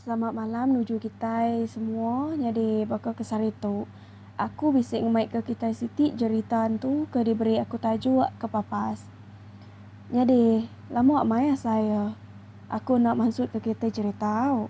Selamat malam nuju kitai semua. Nyadi baka ke sehari tu, aku bisi ngemaika kitai siti jerita entu ke diberi aku tajuk ke papas. Nyadi, lama amai asa iya aku enda mansutka kitai jerita au.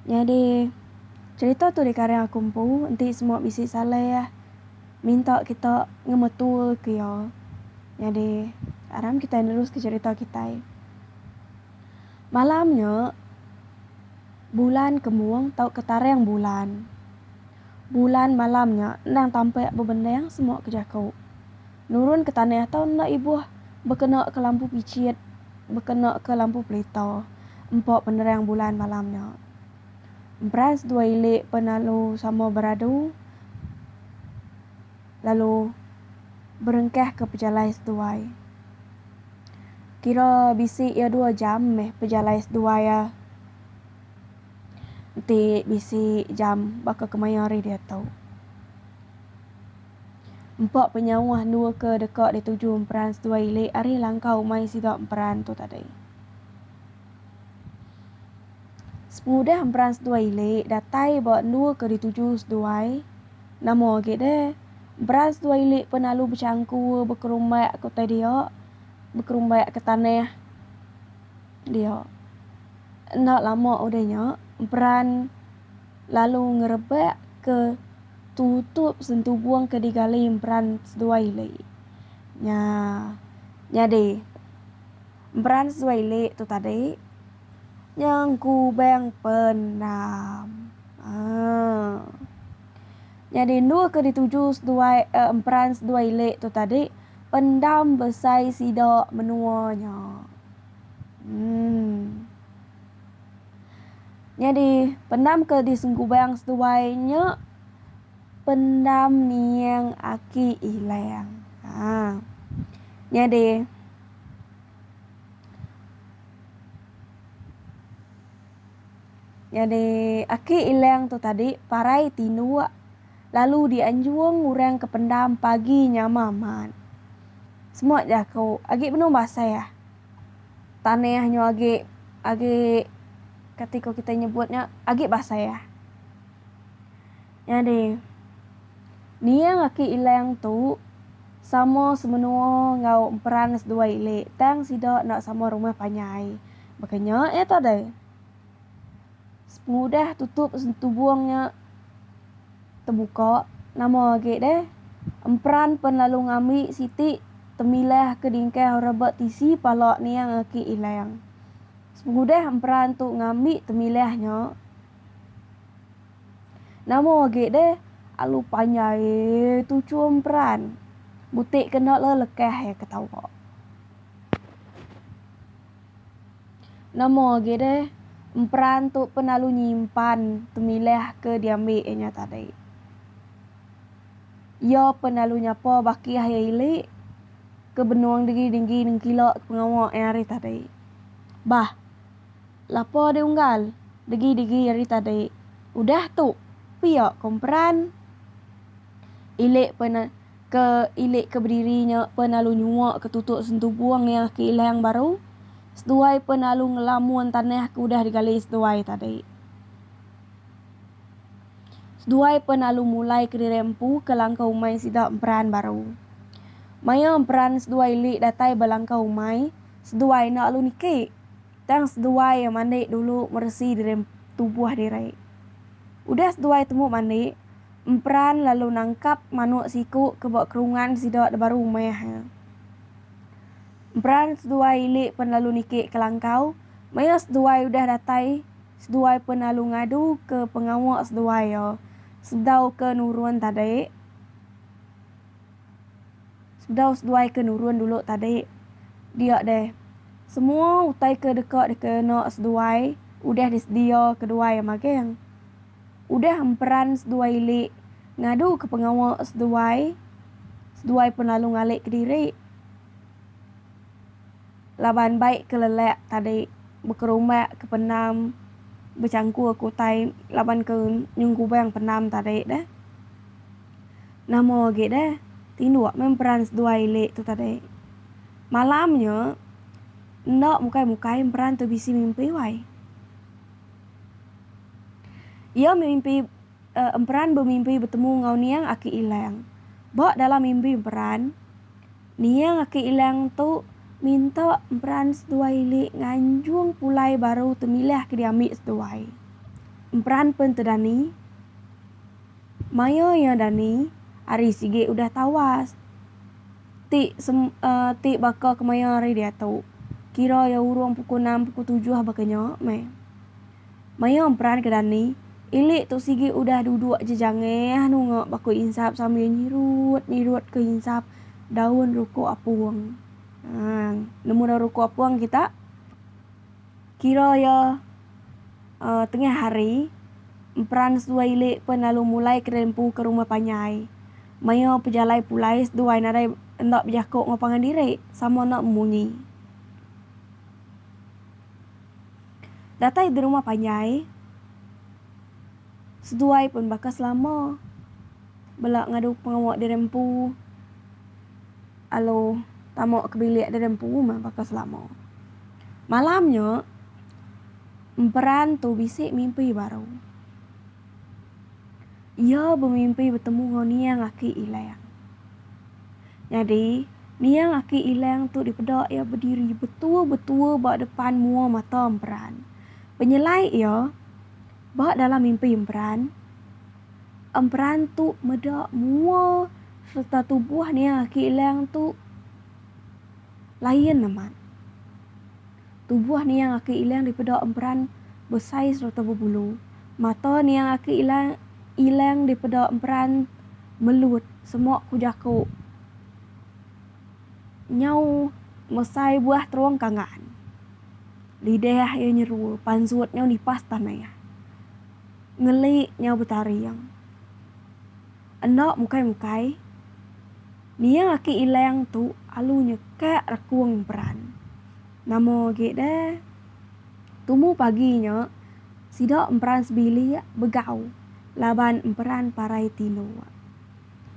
Nyadi. Cherita tu dikareng aku empu enti semua bisi saleh minta kita ngemetul ke iya. Nyadi aram kitai neruske cherita kitai. Malam nya bulan kemung tauka tarang bulan. Bulan malam nya endang tampak bebendang semua ke jaku. Nurun ke tanah tau enda ibuh bekena ke lampu pichit, bekena ke lampu pelita empa penerang bulan malam nya. Emperas dua ili pun lalu sama beradu lalu berengkahka pejalai seduai. Kira bisi iya dua jam meh pejalai seduai iya. Enti bisi jam baka kemaya hari diatu. Empa penyauh endur ke deka dituju emperas dua ili ari langkau umai sida emperan tu tadi. Semudah emperan seduai ili datai ba endu ke dituju seduai, nama agi deh emperan seduai ili pun alu bechangku bekerumbak ke utai dia, bekerumbak ke tanah dia. Enda lama udah nya emperan lalu ngerebak ke tutup sentubung ke digali emperan seduai ili. Nya nyadi emperan seduai ili tu tadi. Nyang kubang penam. Haa. Nyadi endur ke dituju seduai eh, emperan seduai ili tu tadi pendam besai sida menua nya. Emm. Nyadi pendam ke disengkubang seduai nya pendam niang aki ilang. Haa. Nyadi. Nyadi aki Ilang tu tadi parai tinduk lalu dianjung orang ke pendam pagi nyama man. Semua jaku agi benung basah. Tanah nyu agi agi kati ko kite nyebut nya agi basah. Nyadi, niang aki Ilang tu sama semenua enggau emperan seduai ili tang sida enda sama rumah panjai. Baka nya iya tu deh. Pengudah tutup sentubung nya tebuka, nama agi deh emperan pen lalu ngambi siti temilah ke dingkah orang ba tisi pala niang aki Ilang. Sepengudah emperan tu ngambi temilah nya. Nama agi deh alu panjai tu chum peran. Butik ke enda le lekah iya ketawa. Nama agi deh emperan tu pen alu nyimpan temilah ke diambi iya nya tadi. Iya pen alu nyapa bakih iya ili ke benung denggi-denggi nengkila ke pengawa iya hari tadi. Bah. Lapor di unggal, degi-degi ari tadi. Udah tu, pia ko emperan. Ilik pe na, ke ilik ke bediri nya pe nalu nyua ke tutuk sentubung iya ke ilang baru. Seduai pe nalu ngelamun tanah ke udah digali seduai tadi. Seduai pe nalu mulai ke diri empu ke langkau umai sida emperan baru. Maya emperan seduai ilik datai ba langkau umai. seduai enda lalu niki tang seduai mandi dulu meresi diri tubuh diri. Udah seduai tembu mandi, emperan lalu nangkap manuk siku ke ba kerungan sida da baru meh. Emperan seduai ili pen lalu niki ke langkau maya seduai udah datai seduai pen lalu ngadu ke pengawa seduai iya sedau ke nurun tadi. Sedau seduai ke nurun dulu tadi. Dia deh. Semua utai ke deka dikena seduai udah disedia keduai iya magang. Udah emperan seduai ili ngadu ke pengawa seduai, seduai pun lalu ngali kediri. Laban baik ke lelak tadi bekerumbak ke penam bechangkur ke utai laban ke nyengkubang penam tadi deh. Nama agi deh tinduk meh emperan seduai ili tu tadi. Malam nya, enda mukai-mukai emperan tu bisi mimpi wai. Iya mimpi emperan bemimpi betemu enggau niang Aki Ilang. Ba dalam mimpi emperan, niang Aki Ilang tu minta emperan seduai ili nganjung pulai baru temilih ke diambi seduai. Emperan pen te Dani. Maya iya dani, ari sigi udah tawas. Ti sem, ti baka kemaya ari diatu. Kira iya urung pukul enam pukul tujuh baka nya meh. Maya emperan ke dani, ili tu sigi udah duduk aja jangeh nunga baka insap sambil nyirut-nyirut ke insap daun ruko apung. Nang nemu daun ruko apung kita. Kira iya tengah hari, emperan seduai ili pen lalu mulai kedai empu ke rumah panjai. Maya pejalai pulai seduai nadai enda bejako enggau pangan diri sama enda bemunyi. Datai di rumah panjai, seduai pen baka selama bela ngadu pengawa diri empu. Alu tamu ke bilik deh empu meh baka selama. Malam nya emperan tu bisi mimpi baru. Iya bemimpi betemu enggau niang aki Ilang. Nyadi niang aki Ilang tu dipeda iya bediri betua-betua ba depan mua mata emperan. Penyelai iya. Ba dalam mimpi emperan, emperan tu meda mua sereta tubuh Nia Ki Ilang tu lain amat. Tubuh Nia Ki Ilang dipeda emperan besai sereta bebulu. Mata Nia Ki Ilang Ilang dipeda emperan melut, semua ku jaku. nyau mesai buah terung kangan. Lidah iya nyeru pansut nyau nipas tanah. Ngeli nyau betaring. Enda mukai-mukai, nia aki Ilang tu alu nyekak rekung emperan. Nama agi deh, tumu pagi nya sida emperan sebilik begau laban emperan parai tino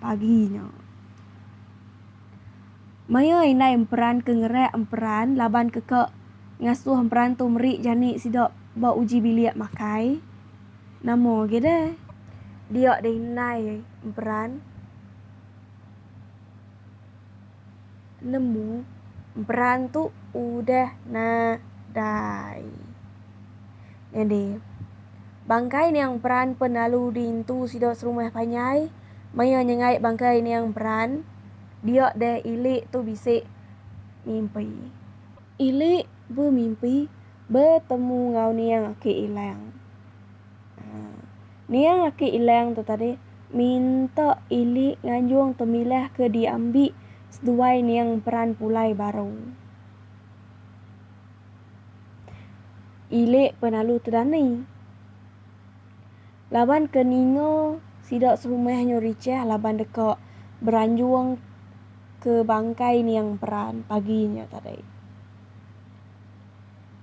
pagi nya. Maya indai emperan ke ngereak emperan laban keka ngasuh emperan tu meri jani sida ba uji bilik makai, nama agi deh? Dia deh indai emperan nemu emperan tu udah nadai. Nyadi, bangkai niang peran pen lalu diintu sida serumah panjai maya nyengai bangkai niang peran dia deh ili tu bisi mimpi. Ili bemimpi betemu enggau niang aki Ilang. Haa, niang aki Ilang tu tadi minta ili nganjung temilah ke diambi seduai niang peran pulai baru. Ile penalu tedani. Laban ke ninga sida serumah nyau richah laban deka beranjung ke bangkai niang peran pagi nya tadi.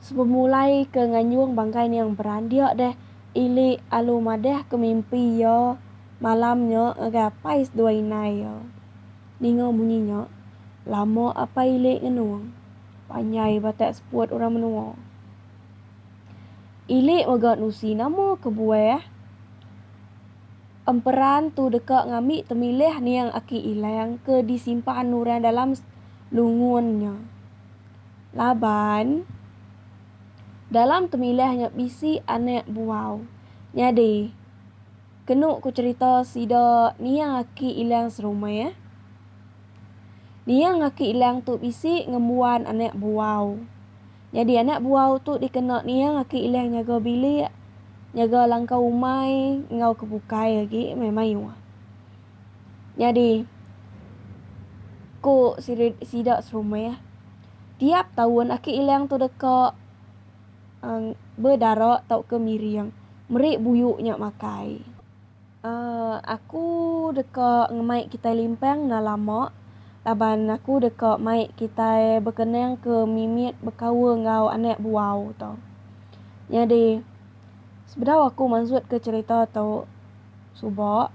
Sebemulai ke nganjung bangkai niang peran dia deh Ile alu madah ke mimpi iya malam nya ngagai apai seduai indai iya. Ninga munyi nya, lama apai Ile ngenung. Panjai batak seput orang menua. Ilik mega nusi nama kebuah emperan tu deka ngambi temilih niang aki ilang ke disimpan orang dalam lungun nya. Laban, dalam temilih nya bisi anak buau. Nyadi. Kenu ku cerita sida Nia aki Ilang serumah. Nia ngaki Ilang tu bisi ngembuan anak buau. Nyadi anak buau tu dikena Nia ngaki Ilang nyaga bilik, nyaga langkau umai enggau ke bukai agi meh mayuh. Nyadi ku sida serumah, tiap taun aki Ilang tu deka. Ang bedara tauka miring. Meri buyu nya makai. Aaa aku deka ngemai kitai limpang enda lama laban aku deka mai kitai bekenang ke mimit bekaul enggau anak buau tu. Nyadi sebedau aku mansutka cherita tu suba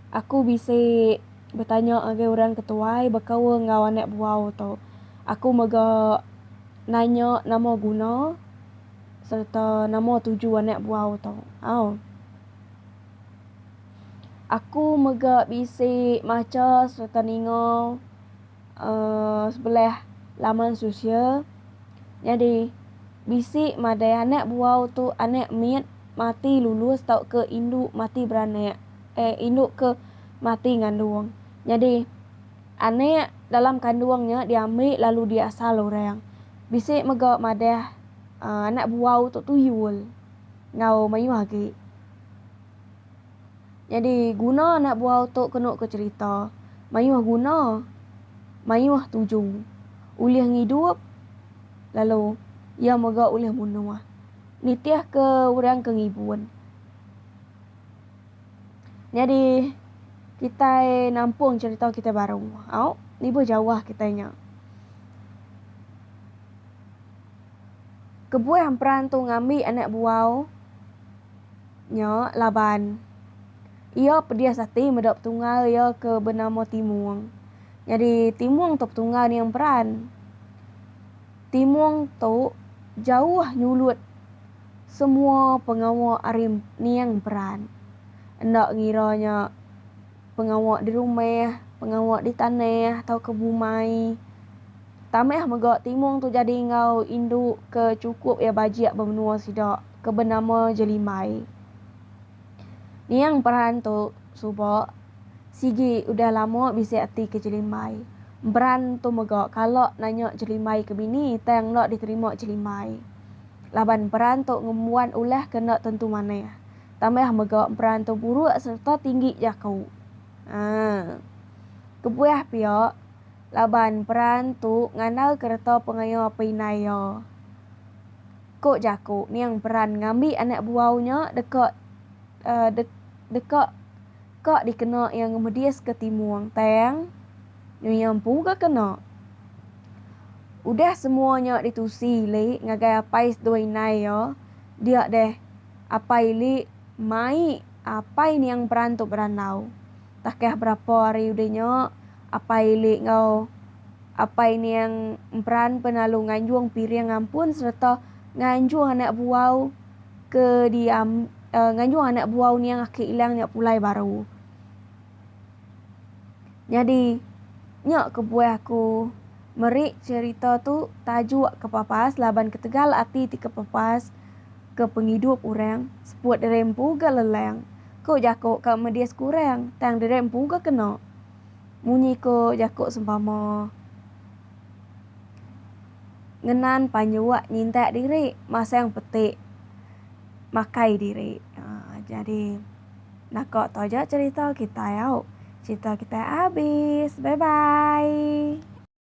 aku bisi betanya ngagai orang ke tuai bekaul enggau anak buau tu aku mega. Nanya nama guna sereta nama tuju anak buau tu. Au. Aku mega bisi macha sereta ninga uhh sebelah laman sosial nyadi bisi madai anak buau tu anak mit mati lulus tauka indu mati beranak. Eh indu ke mati ngandung. Nyadi Anak dalam kandung nya diambil lalu diasal orang. Bisi mega madah anak buau tu tuyul enggau mayuh agi. Nyadi guna anak buau tu kenu ke cherita mayuh guna mayuh tuju ulih ngidup lalu iya mega ulih munuh nitihka orang ke ngibun. Nyadi kitai nampung cerita kitai baru. Au, nibuh jauh kitai nya. Kebuah emperan tu ngambi anak buau nya laban iya pedis ati meda petunggal iya ke benama Timung. Nyadi Timung tu petunggal ni emperan. Timung tu jauh nyulut Semua pengawa ari niang peran. Enda ngira nya pengawa di rumah, pengawa di tanah tauka bumai. Tambah mega Timung tu jadi enggau indu ke chukup iya bajik ba menua sida ke benama Jelimbai. Niang peran tu suba sigi udah lama bisi ati ke Jelimbai. Emperan tu mega kala nanya Jelimbai ke bini tang enda diterima Jelimbai. laban emperan tu ngembuan ulah ke enda tentu manah tambah mega emperan tu buruk sereta tinggi jaku. Aa. Kebuah pia, laban emperan tu ngandal kereta pengaya apai indai iya. Ko jaku ning emperan ngambi anak buau nya deka aa deka. ka dikena iya ngemediska timung tang nyu iya empu ga kena. Udah semua nya ditusi ili ngagai apai sedua indai iya, dia deh apai ili mai apai niang beran tu berandau. Takah berapa hari udah nya, apai ili enggau apai niang emperan pen lalu nganjung piring ampun sereta nganjung anak buau ke diam uh, nganjung anak buah uniang aki ilang nya pulai baru. Nyadi nya kebuah aku meri cerita tu tajuk kepapas laban ketegal ati ti kepapas ke pengidup orang seput diri empu ga lelang. Ko jako ka medis kurang tang diri empu ga kena. Munyi ko jako sempama. ngenan panyuak nyintak diri masang peti makai diri aaa jadi naka taja cerita kitai au cerita kitai abis bye bye.